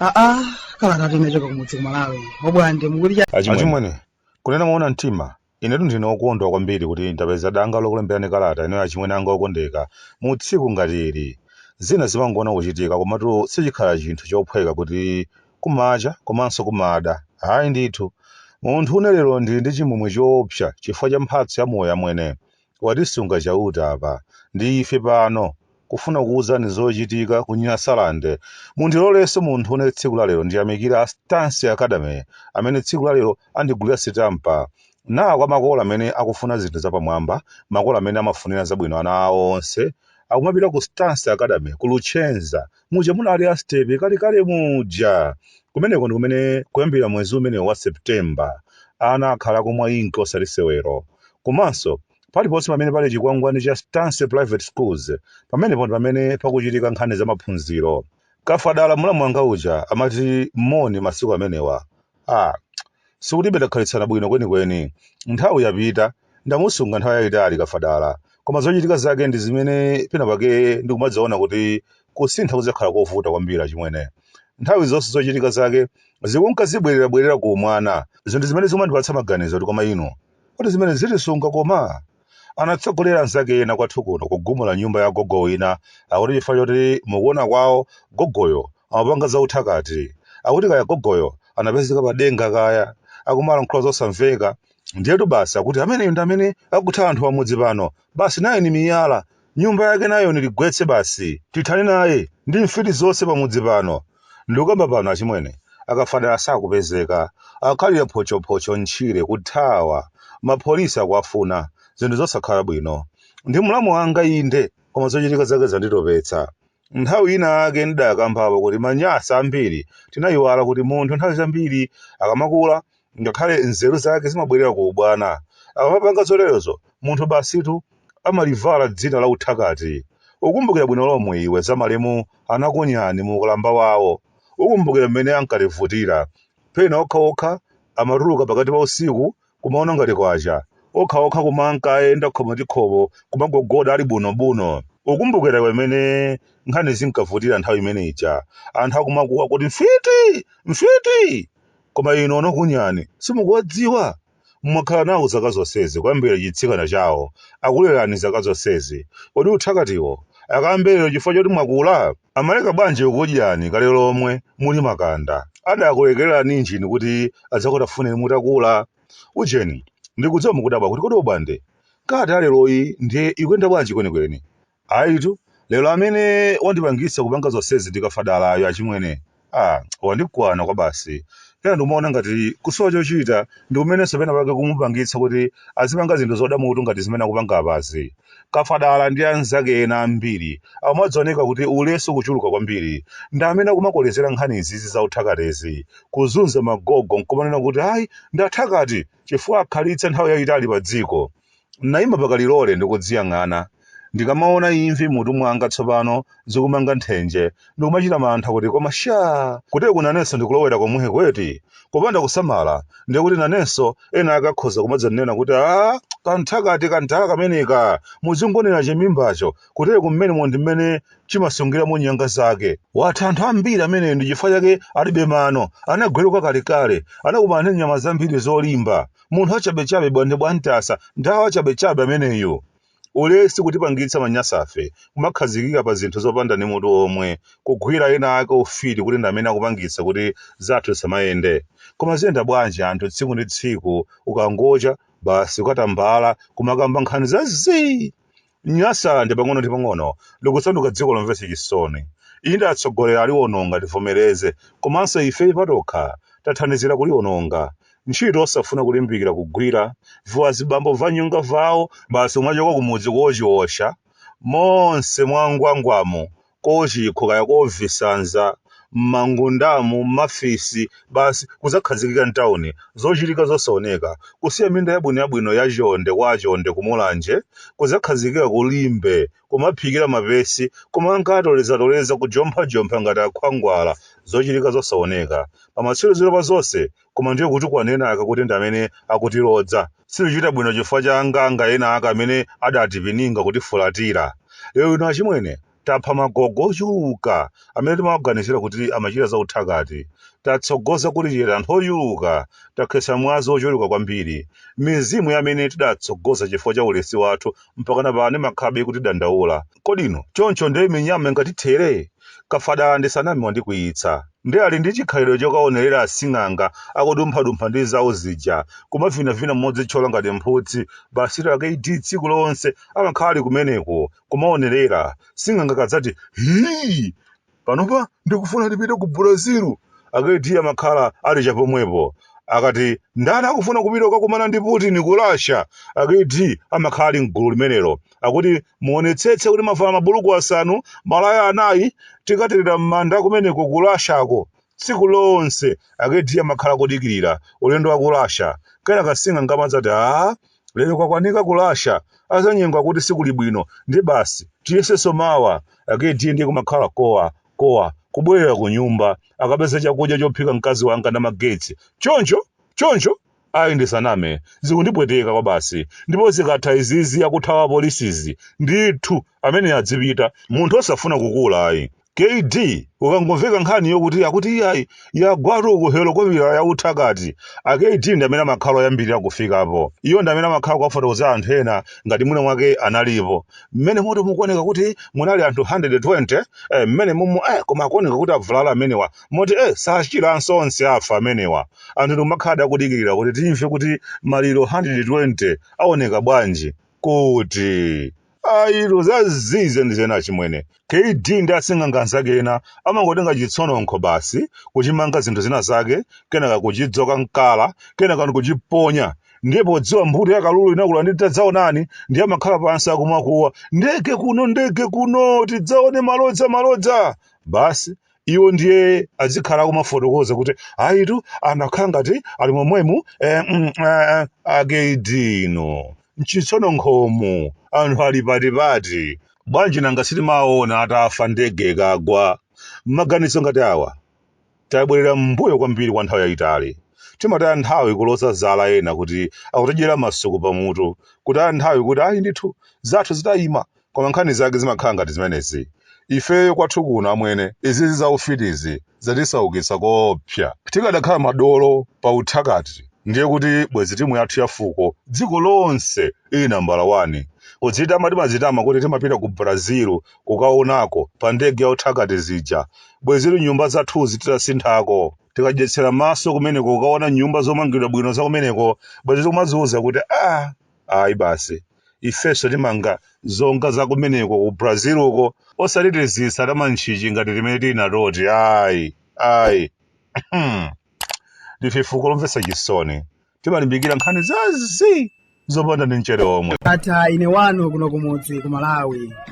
aa kalata tinachoka kumudzi kumalawi oBwande achimwene kunena moona mtima Inetu ndine wokondwa kwambiri kuti ndapeza danga lokulemberani kalata inoyo achimwene anga okondeka mu tsiku ngati ili. Zina zimangoona kuchitika komatu sichikhala chinthu chophweka kuti kumacha komanso kumada. Hayi ndithu. Munthune lero ndili ndi chimwemwe choopsa chifukwa cha mphatso ya moyo amwene. Watisunga Chauta apa ndi ife pano kufuna kuwuzani zochitika ku Nyasaland. Mundilolenso munthune tsiku la lero ndiyamikire a Stance Academy amene tsiku la lero andigulira sitampa. Nawo makolo amene akufuna zinthu zapamwamba, makolo amene amafunira zabwino ana awo onse akumapita ku Stance Academy ku Luchenza. muja munali a Sitepe kalekale muja. Kumeneko ndi kumene kuyambira mwezi umene wa September, ana akhala akumwa inki osati sewero. Komanso, paliponse pamene pali chikwangwani cha Stance Private Schools, pamenepo ndi pamene pakuchitika nkhani za maphunziro. Kafadala mulamu wanga uja amati moni masiku amenewa ah sikutibe takhalitsana bwino kwenikweni nthawi yapita ndamusunga nthawi yayitali kafadala koma zochitika zake ndi zimene pena pake ndikumaziona kuti kusintha kudzakhala kovuta kwambiri achimwene nthawi zonse zochitika zake zikunka zibwererabwerera ku umwana zinthu zimene zimandipatsa maganizo kuti koma inu kodi zimene zitisunga koma anatsogolera anzake ena kwathu kuno kugumula nyumba ya gogo wina akuti chifukwa choti mukuona kwawo gogoyo amapanga zauthakati akuti kaya gogoyo anapezeka pa denga kaya akumalankhula zosamveka ndiyetu basi akuti ameneyo ndi amene akutha anthu pamudzi pano basi naye ni miyala Nyumba yake nayo niligwetse basi. Tithane naye ndi mfiti zonse pamudzi pano. Ndikukamba pano achimwene, a Kafadala sakupezeka. Akhalira photchophocho m'tchire, kuthawa. Mapolisa akuwafuna. Zinthu zosakhala bwino. Ndi mlamu wanga inde, koma zochitika zake zanditopetsa. Nthawi ina yake ndidakambapo kuti Manyasa ambiri tinayiwala kuti munthu nthawi zambiri akamakula ngakhale nzeru zake zimabwerera ku ubwana. Akamapanga zoterozo, munthu basitu amalivala dzina la uthakati. Ukumbukira bwino lomwe iwe za malemu Anakunyani mu ukalamba wawo. Ukumbukira mmene ankativutira. Pena okhaokha amatuluka pakati pa usiku kumaona ngati kwacha. Okhaokha kumanka ayenda khomo ndi khomo kumagogoda ali bunobuno. Ukumbukira iwe mmene nkhani zinkavutira nthawi imene ija, anthu akumakuwa kuti, Mfiti! Mfiti! Koma inu onakunyani simukuwadziwa? Mwakhala nawo zaka zonsezi kuyambira chitsikana chawo, akulerani zaka zonsezi, kodi uthakatiwo akayambe lero chifukwa choti mwakula? Amaleka bwanji kukudyani kale lomwe muli makanda? Adakulekererani njini kuti adzakutafuneni mutakula? Ujeni, ndikudziwa mukudabwa kuti kodi Obwande, kati yaleroyi ndiye ikuyenda bwanji kwenikweni? Ayitu, lero amene wandipangitsa kupanga zonsezi ndi Kafadalayo achimwene. Ah, wandikwana kwabasi. Pena ndikumaona ngati kusowa chochita ndi kumenenso pena pake kumupangitsa kuti azipanga zinthu zoda mutu ngati zimene akupanga apazi. Kafadala ndi anzake ena ambiri amadzioneka kuti ulesi ukuchuluka kwambiri. Ndi amene akumakolezera nkhani izizi za uthakatezi, kuzunza magogo n'kumanena kuti ayi ndi athakati chifukwa akhalitsa nthawi yaitali padziko. N'naima pa kalilole ndi kudziyang'ana. Ndikamaona imvi m'mutu mwanga tsopano zikumanga nthenje, ndikumachita mantha kuti koma shaa! Kuteku nanenso ndikulowera komweku eti? Kupanda kusamala, ndiye kuti nanenso ena ake akhoza kumadzanena kuti Aaa! Kamthakati kantaa kameneka! Muzingoonera chimimbacho, kuteku mmenemo ndi mmene chimasungiramo nyanga zake. Watha anthu ambiri ameneyu ndi chifukwa chake alibe mano, anagweruka kalekale, anakumana ndi nyama zambiri zolimba, munthu wachabechabe bwande bwantasa nthawi wachabechabe ameneyo ulesi kutipangitsa manyasafe kumakhazikika pa zinthu zopanda ndi mutu omwe kugwira ena ake ufiti kuti ndi amene akupangitsa kuti zathu zisamayende koma ziyenda bwanji anthu tsiku ndi tsiku ukangocha basi ukatambala kumakamba nkhani za zii Nyasaland pang'ono ndi pang'ono likusanduka dziko lomvetsa chisoni. Inde atsogoleri aliwononga tivomereze komanso ifeyo patokha tathandizira kuliononga. Ntchito osafuna kulimbikira kugwira, viwazibambo vanyonga vawo basi kumachoka kumudzi kochiosha monse mwangwangwamu kochikho kaya kovisanza m'mangundamu, m'mafisi, basi kudzakhazikika m'tauni, zochitika zosaoneka, kusiya minda yabwino yabwino ya chonde kwa Chonde ku Mulanje, kudzakhazikika ku Limbe, kumaphikira mapesi, kumanka atolezatoleza, kujomphajompha ngati akhwangwala, zochitika zosaoneka, pamatsiriziro pa zonse, koma ndiye kutukwana ena ake kuti ndi amene akutilodza. Situchita bwino chifukwa cha anganga ena ake amene adatipininga kutifulatira. Lero lino achimwene, tapha magogo ochuluka amene timawaganizira kuti amachita za uthakati. Tatsogoza kuli chete anthu ochuluka. Takhetsa mwazi wochuluka kwambiri. Mizimu ya amene tidatsogoza chifukwa cha ulesi wathu mpakana pano imakhabe kutidandaula kodino choncho nde minyama ingatithere kafadala ndisaname wandikwiyitsa nde ali ndi chikhalidwe chokaonerera asing'anga akudumphadumpha ndi zawo zija kumavinavina modzitchola ngati mphutsi basi la kaidi tsiku lonse amakhala ali kumeneko kumaonerera sing'anga kadzati hii panopa ndikufuna tipite ku brazil akd amakhala ali chapomwepo akati ndani akufuna kupita kukakumana ndi putin ku russia akd amakhala ali mgulu limenelo akuti muonetsetse kuti mwavala mabuluku asanu malaya anayi tikaterera m'manda kumeneko ku russiako tsiku lonse akd amakhala kudikirira ulendo wa ku russia kenaka sing'anga amadzati a Lero kwakwanika ku Russia azanyengo akuti sikuli bwino nde basi tiyesenso mawa akd nde kumakhala kowa kowa kubwerera kunyumba akapeza chakudya chophika mkazi wanga namagetsi choncho choncho ayi ndisaname zikundipweteka kwabasi ndipo zikatha izizi akuthawa apolisizi ndithu ameneyo adzipita munthu osafuna kukula ayi kd ukangomveka nkhani yokuti akuti iyayi yagwatu uku helikopita ya uthakati akd ndi amene amakhala oyambirira kufikapo iwo ndi amene amakhala kuwafotokozera anthu ena ngati mwina mwake analipo mmenemotu mukuoneka kuti munali anthu 120 eh, mmenemumu eh, koma akuoneka kuti avulala amenewa moti eh, sachiranso onse afa amenewa anthu ndikumakhala akudikirira kuti timve kuti maliro 120 aoneka bwanji kuti ayitu zazii zenizeni achimwene kd ndi asing'anga anzake ena amangotenga chitsononkho basi kuchimanga zinthu zina zake kenaka kuchidzoka mkala kenaka ndikuchiponya ndiye podziwa mbuto ya kalulu inakula ndi tadzaonani ndiye amakhala pansi akumakuwa ndege kuno ndege kuno tidzaone malodza malodza basi iwo ndiye azikhala akumafotokoza kuti ayitu anakhala ngati ali momwemu eh, mm, eh, akd inu mchitsononkhomu anthu ali patipati bwanji nanga sitimaona atafa ndege ikagwa maganizo ngati awa tabwerera m'mbuyo kwambiri kwa nthawi yayitali timataya nthawi kuloza zala ena kuti akutidyera masuku pamutu kutaya nthawi kuti ayi ndithu zathu zidayima Koma nkhani zake zimakhala ngati zimenezi. Ifeyo kwathu kuno amwene, izizi za ufitizi zatisaukitsa koopsa. Tikadakhala madolo pa uthakati ndiye kuti bwezi timu yathu ya fuko dziko lonse ili nambala wani. Kudzitama timadzitama kuti timapita ku Brazil kukaonako pa ndege ya uthakati zija. Bwezitu nyumba zathuzi titasinthako. Tikadyetsera maso kumeneko kukaona nyumba zomangidwa bwino za kumeneko, bwezi tikumadziuza kuti aah! ayi basi ifenso timanga zonga za kumeneko ku brazil uko osati tizisa tamantchichi ngati timene tili natoti ayi ayi ndife fuko lomvetsa chisoni timalimbikira nkhani zazii zopanda ndi mchere omwe Ndatha ine wanu kuno kumudzi ku Malawi.